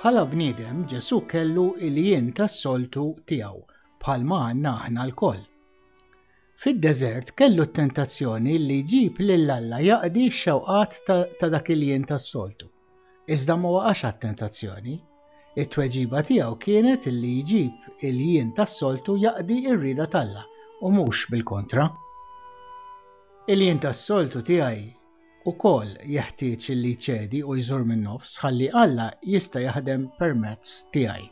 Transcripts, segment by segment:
Bħala bniedem Ġesu kellu il-jien tas-soltu tiegħu bħalma għandna aħna lkoll. Fid-deżert kellu t-tentazzjoni li jġib lil Alla jaqdi x-xewqat ta' dak il-jien tas-soltu. Iżda ma waqax għat-tentazzjoni. It-tweġiba tiegħu kienet li jġib il-jien tas-soltu jaqdi r-rieda t'Alla u mhux bil-kontra. Il-jien tas-soltu tiegħi wkoll jeħtieġ li jċedi u jżur min-nofs ħalli Alla jista' jaħdem permezz tiegħi.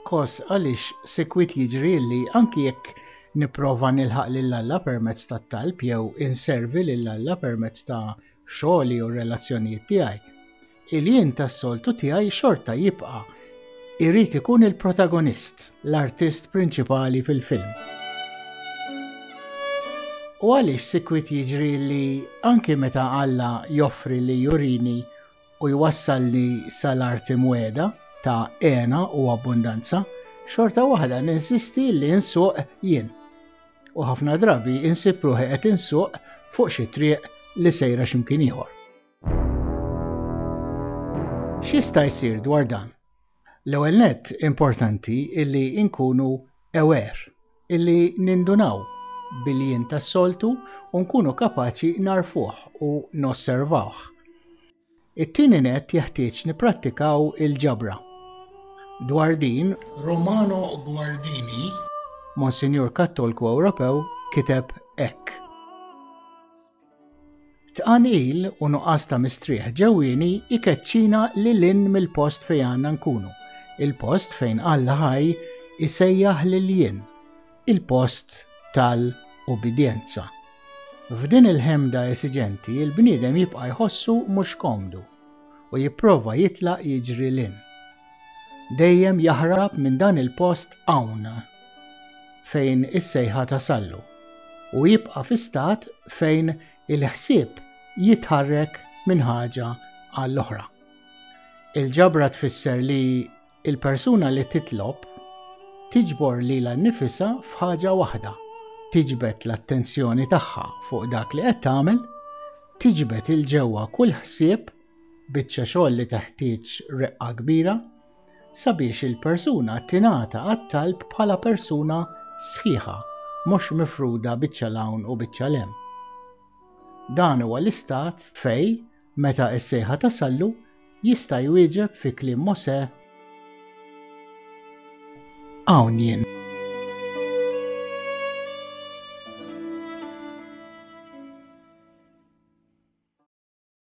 Kos għaliex sikwit jiġri li anki jekk Nipprova nilħaq lil Alla permezz tat-talb jew inservi lil Alla permezz ta' xogħli u r-relazzjonijiet tiegħi. Il-jien tas-soltu tiegħi xorta jibqa' jrid ikun il-protagonist, l-artist prinċipali fil-film. U għaliex sikwit jiġri li anki meta Alla joffri li jurini u jwassal li sal-arti mwegħda ta' hena u abbundanza, xorta waħda ninsisti li nsuq jien. U ħafna drabi insib ruħi qed insuq fuq xi triq li sejra x'imkien ieħor. X'jista' jsir dwar dan? L-ewwel nett importanti illi nkunu aware, illi nindunaw bil-jien tas-soltu u nkunu kapaċi nagħrfuh u nosservawh. It-tieni nett jeħtieġ nipprattikaw il-ġabra. Dwar din. Romano Guardini. Monsinjur Kattolku Ewropew kiteb hekk. Tqanqil u nuqqas ta' mistrieħ ġewwieni jkeċċina lil hinn mill-post fejn għandna nkunu, il-post fejn Alla ħaj isejjaħ lil jien, il-post tal-ubbidjenza. F'din il-ħemda esiġenti, il-bniedem jibqa' jħossu mhux komdu u jipprova jitlaq jiġri 'l hinn. dejjem jaħrab minn dan il-post hawn fejn is-sejħa tasallu u jibqa' fi stat fejn il-ħsieb jitħarrek minn ħaġa għall-oħra. Il-ġabra tfisser li il-persuna li titlob tiġbor lilha nnifisha f'ħaġa waħda, tiġbed l-attenzjoni tagħha fuq dak li qed tagħmel, tiġbed il-ġewwa kull ħsieb Biċċa xogħol li teħtieġ reqqa kbira sabiex il-persuna tingħata għat-talb bħala persuna sħiħa, mhux mifruda biċċa 'l hawn u biċċa 'l hemm. Dan huwa l-istat fej, meta s-sejħa tasallu, jista' jwieġeb fi kliem Mosè, Hawn jien.